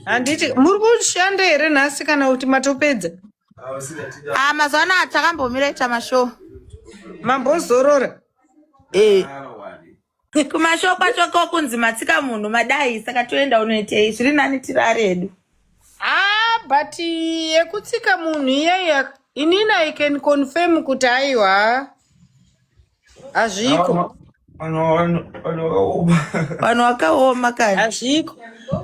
handiti muri kushanda here nhasi kana kuti matopedza ah, mazuva anaya takambomira ita mashow mambozorora eh. kumashow kwacho ko kunzi matsika munhu madai saka toenda unoitei zviri nani tirare hedu ah, but yekutsika munhu iyeya inini i can confirm kuti aiwa hazviko vanhu vakaoma kani hazviko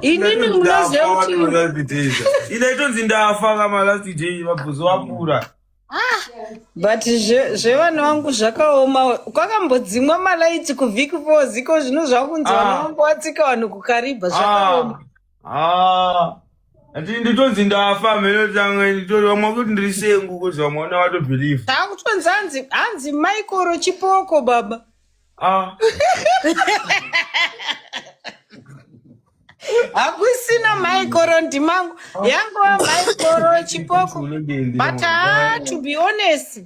inini munoziva kuti ine itonzi ndafa kama last day vabhuzo vapura but zve- zvevana vangu zvakaoma kwakambodzimwa malaiti kuvhiki four ziko zvino zvakunzi vana Ah. vangu vatsika vanhu kukaribha zvakaoma haa ati nditonzi ndafa mheno tanga nditori vamwe vakuti ndiri sengu kozi vamwe vana vatobhiliva taakutonzi hanzi hanzi maikoro chipoko baba ah hakusina maikoro ndimangu yangova maikoro chipoko but haa to be honest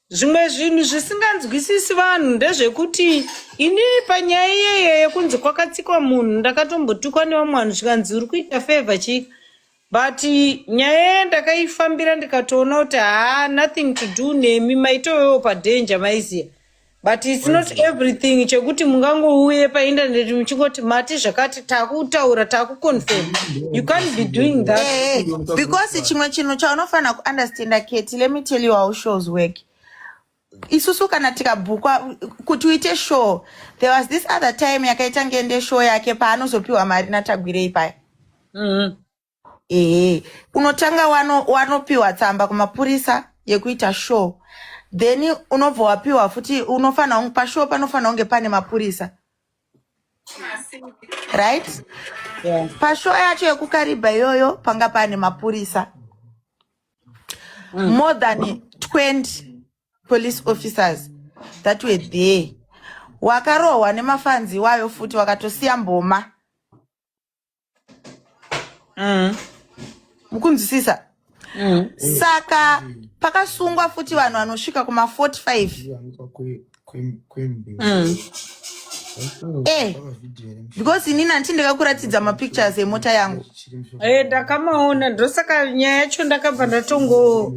Zvimwe zvinhu zvisinganzwisisi vanhu ndezvekuti ini panyaya iyeye yekunzi kwakatsikwa munhu ndakatombotukwa nevamwe vanhu zvikanzi uri kuita favor chika but nyaya iye ndakaifambira ndikatoona kuti haa nothing to do nemi maitovewo padanger maiziva but its not everything chekuti mungangouye paindaneti muchingoti mati zvakati takutaura takuconfirm you can't be doing that Eh, eh, because chimwe chinhu chaunofanira kuunderstanda keti let me tell you how shows work isusu kana tikabhukwa kuti uite show there was this other time yakaita ngende show yake paanozopiwa mari natagwirei paya Mhm. ehe unotanga wano wanopiwa tsamba kumapurisa yekuita show then unobva wapiwa futi unofanira kunge pashow panofanira kunge pane mapurisa right Yeah. pashow yacho yekukaribha iyoyo panga pane mapurisa more than 20 police officers that were there wakarohwa nemafanzi iwayo futi wakatosiya mboma mm. mukunzwisisa mm. saka pakasungwa futi vanhu vanosvika kuma 45 mm. Eh, because inini hanti ndakakuratidza mapictures emota yangu eh, ndakamaona ndosaka nyaya yacho ndakabva ndatongo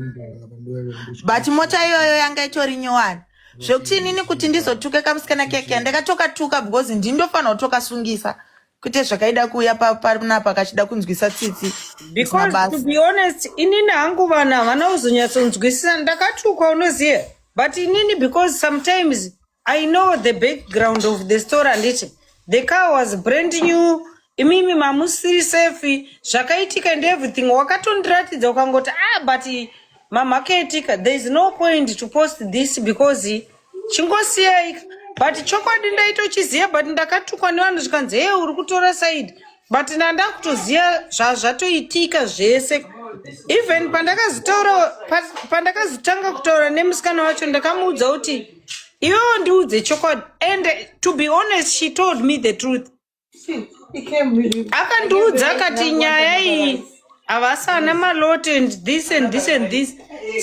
but mota iyoyo yanga itori nyowani zvekuti inini kuti ndizotuke kamusikana keke ndakatokatuka because ndindofanira kutokasungisa kwete zvakaida kuuya pa- panapa kachida kunzwisa tsitsi It's because to mabasa be honest inini hangu vanhu havana kuzonyatsonzwisisa ndakatukwa unoziva but inini because sometimes i know the background of the story handiti the car was brand new imimi mamusiri safe zvakaitika and everything wakatondiratidza ukangoti ah but mamhakaitika there is no point to post this because chingosiyai but chokwadi ndaitochiziva but ndakatukwa nevanhu zvikanzi hee uri kutora saidi but nandakutoziva zvazvatoitika zvese even pandakazotaura pandakazotanga kutaura nemusikana wacho ndakamuudza kuti iwewo ndiudze chokwadi and to be honest she told me the truth akandiudza akati nyaya iyi havasana malot and this and this and this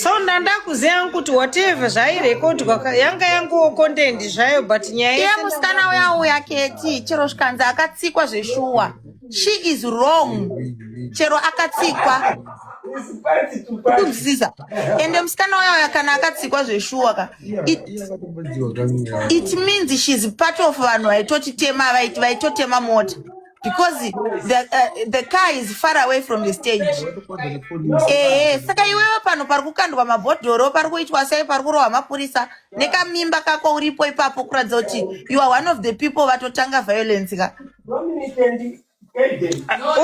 so ndandakuziva yangu kuti whatever zvairekodwa yanga yanguwo content zvayo but nyaya iye musikana uya uya keti chero zvikanzi akatsikwa zveshuwa she is wrong chero akatsikwa kunzisa ende musikana uya uya kana akatsikwa zveshuwa ka It, it means she's part of vanhu vaitotitema vaiti vaitotema mota because the, uh, the car is far away from the stage ehe eh, saka iwewe pano pari kukandwa mabhodhoro pari kuitwa sei pari kurohwa mapurisa nekamimba kako uripo ipapo kuratidza kuti you are one of the people vatotanga violence ka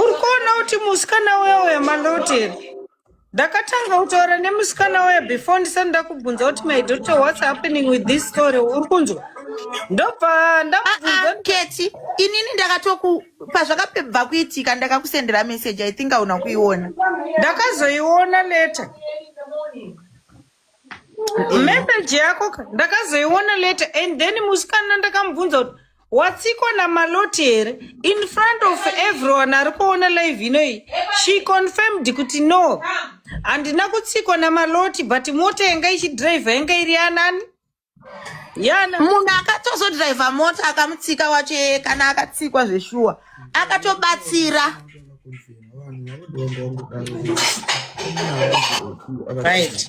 uri kuona kuti musikana uya uya maloti here ndakatanga kutaura nemusikana uya before ndisati ndakubvunza kuti my daughter what's happening with this story uri kunzwa ndobva ndakubvunza keti inini ndakatoku pazvakapebva kuitika ndakakusendera message i think auna kuiona ndakazoiona later message yako ka- ndakazoiona later and then musikana ndakamubvunza kuti watsiko namaloti here in front of everyone ari kuona live inoyi she confirmed kuti no handina kutsikwa namaloti but mota yanga ichidriver yanga iri yanani yana munhu akatozodriver mota akamutsika wacho kana akatsikwa zveshuwa akatobatsira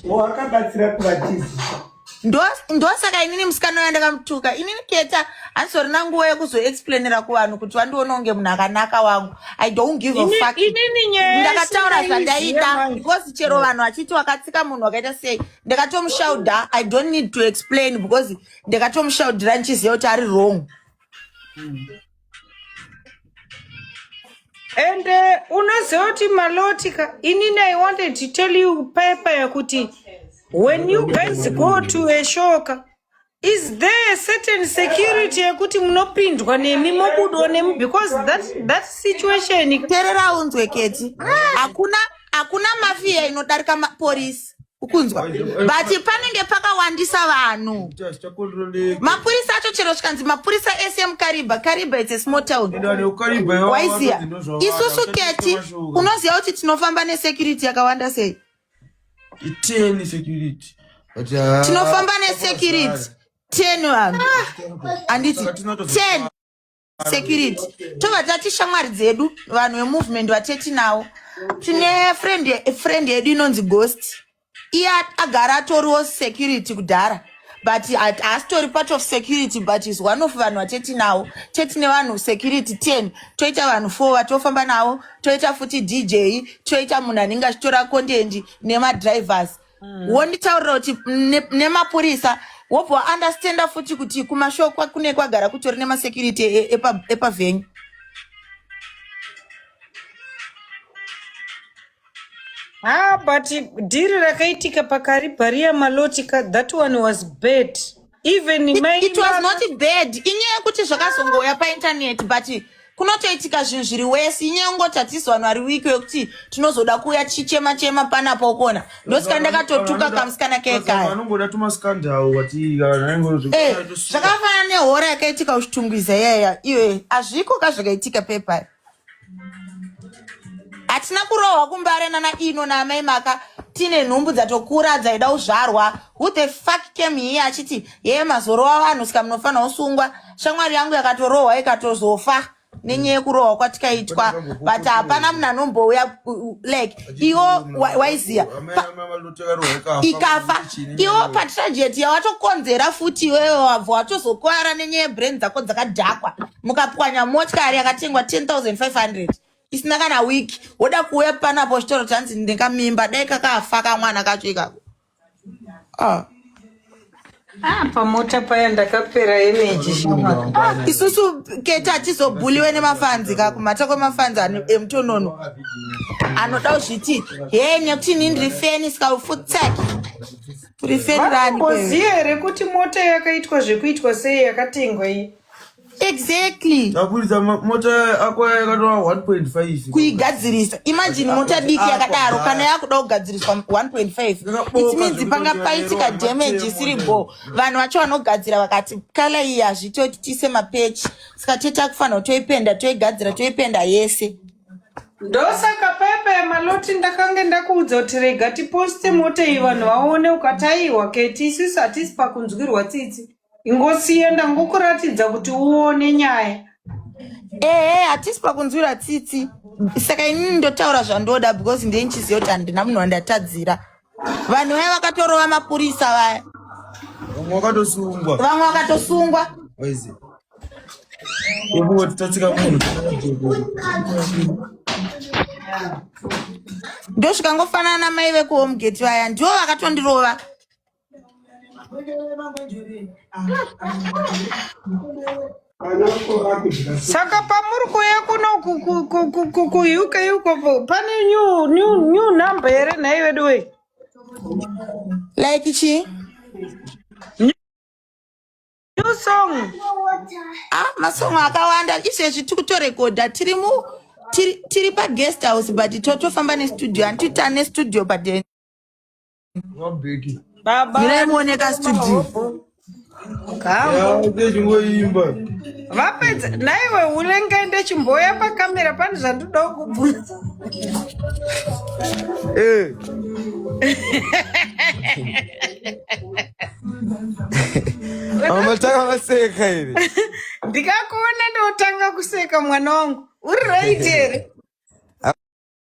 wakabatsira kuvatisi ndosaka inini musikana uya ndakamutuka inini keta handisorina nguva yekuzoexplainira kuvanhu kuti vandiona kunge munhu akanaka wangu i don't give a fuck ndakataura zvandaida because chero vanhu vachiti wakatsika munhu wakaita sei ndakatomushaudha i don't need to explain because ndakatomushaudhira ndichiziva kuti ari wrong and uh, unoziva kuti maloti ka inini i wanted to tell you paipa yakuti when you guys go to a shoka Is there a certain security yekuti munopindwa nemi mobudwa nemi because that, that situation terera unzwe keti hakuna hakuna mafiya inodarika maporisi ukunzwa but panenge pakawandisa vanhu mapurisa acho chero zvikanzi mapurisa ese emukariba kariba its a small town waiziya isusu keti unoziva kuti tinofamba nesecurity yakawanda sei iteni security But, ah, tinofamba nesecurity ten vanhu handiti ten security tobva tati shamwari dzedu vanhu vemovement vateti nawo tine friend friend yedu inonzi ghost iye agara atoriwo security kudhara but haasitori part of security but is one of vanhu vatetinawo tetine vanhu security ten toita vanhu four vatofamba navo toita futi dj toita munhu anenge achitora contendi nemadrivers mm. wonditaurira kuti nemapurisa ne wobva waunderstanda futi kuti kumashow kune kwagara kutori nemasecurity e, e, epavenyu Ah, but dhiri rakaitika pakaribha riya maloti ka that one was bad even mai it was not bad inyaya yekuti zvakazongouya paintaneti but kunotoitika zvinhu zviri wesi inyaya yekungoti hatisi vanhu vari wiki wekuti tinozoda kuuya tichichema chema panapo ukona ndosika ndakatotuka kamusikana kekaya vanongoda tumaskandal wati eh, zvakafanana nehora yakaitika kuchitungwiza yaya iwe hazviko ka zvakaitika pepaya hatina kurohwa kumbare nana ino naamai maka tine nhumbu dzatokura dzaida kuzvarwa who the fuck came here achiti yeye mazorowa vanhu sika munofanira kusungwa shamwari yangu yakatorohwa ikatozofa nenyaya yekurohwa kwatikaitwa but hapana munhu anombouya like iwo waiziva ikafa iwo patragedy yawatokonzera futi iwewe wabva watozokwara nenyaya yebrain dzako dzakadhakwa mukapwanya motikari yakatengwa 10500 isina kana week woda kuuya panapo chitoro chanzi ndikamimba dai kakafa kamwana kacho ikako ah. Ah, pamota paya ndakapera energy shoma. Ah, isusu keta atizobhuliwe nemafanzi ka kumhata kwemafanzi emutonono anoda kuzviti hee nekuti ni ndiri feni sika ufutsaki uri feni rani koziye rekuti mota yakaitwa zvekuitwa sei yakatengwa iyi exactly taburitsa mota ako yakatova 1.5 kuigadzirisa imagine ah, mota diki ah, yakadaro ah, kana yakuda kugadziriswa 1.5 it means panga paitika damage isiri bo vanhu vacho vanogadzira vakati kala iyi hazvitoti tiise mapechi saka toita kufanira toipenda toigadzira toipenda yese ndosaka pepa yemaloti ndakange ndakuudza kuti rega tiposte mota iyi vanhu vaone ukataiwa keti isusu hatisi pakunzwirwa tsitsi ingosiye ndangokuratidza kuti uone nyaya ehe hatisi pakunzwira tsitsi saka inini ndotaura zvandoda because ndei ndichiziva kuti handina munhu wandatadzira vanhu vaya vakatorova mapurisa vaya vamwe vakatosungwa vamwe vakatosungwa Waizi. Ibuwe tutatsika munhu. ndosvika ngofanana na mai vekuhomegate vaya ndivo vakatondirova saka pamuri kuuya kuno kuuk uko pane new number here nhai vedu wei like chii new song ah masong akawanda izvezvi tiri kutorekodha tiri mu tiri paguest house but totofamba nestudio handiti tane studio but Baba. Mirai muoneka studio. Chingoimba. Vapedza naiwe unenge ende chimboya pakamera pane zvandoda kubvunza. Eh. Amataka maseka iri. Ndikakuona ndotanga kuseka mwana wangu. Uri right here?